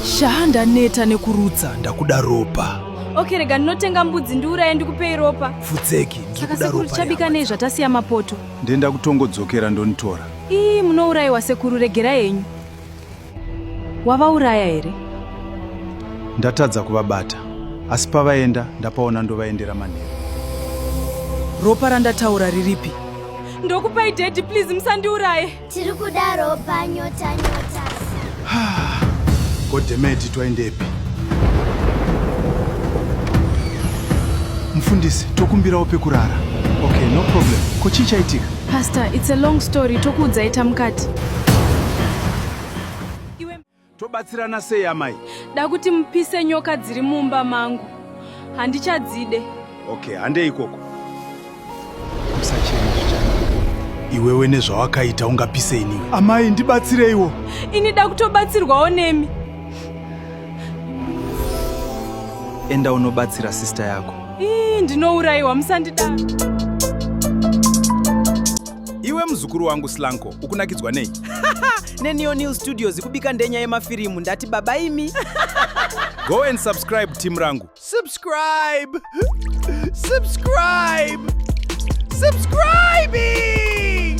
shaa ndaneta nekurutsa ndakuda ropa okay rega ndinotenga mbudzi ndiuraye ndikupei ropa futseki saka sekuru tichabika nei zvatasiya mapoto ndenda kutongodzokera ndonitora ii munourayiwa sekuru regerai henyu Wavauraya here? Ndatadza kuvabata, asi pavaenda ndapaona ndovaendera manheru. Ropa randataura riripi? Ndokupai daddy please musandiuraye. Tiri kuda ropa nyota nyota. Godemeti twaendepi? Mfundisi, tokumbirawo pekurara. Okay, no problem. Ko chii chaitika? Pastor, it's a long story. Tokuudzai tamukati. Tobatsirana sei amai? Da kuti mupise nyoka dziri mumba mangu. Handichadzide. Okay, handei ikoko. Usachema zvichana. Iwewe nezvawakaita ungapise iniwe. Amai ndibatsireiwo. Ini da kutobatsirwawo nemi. Enda unobatsira sister yako. Ii, ndinourayiwa musandida. Iwe muzukuru wangu Slanko, ukunakidzwa nei? neneo new studios ikubika ndenya yemafirimu ndati baba imi go and subscribe team rangu subscribe subscribe subscribing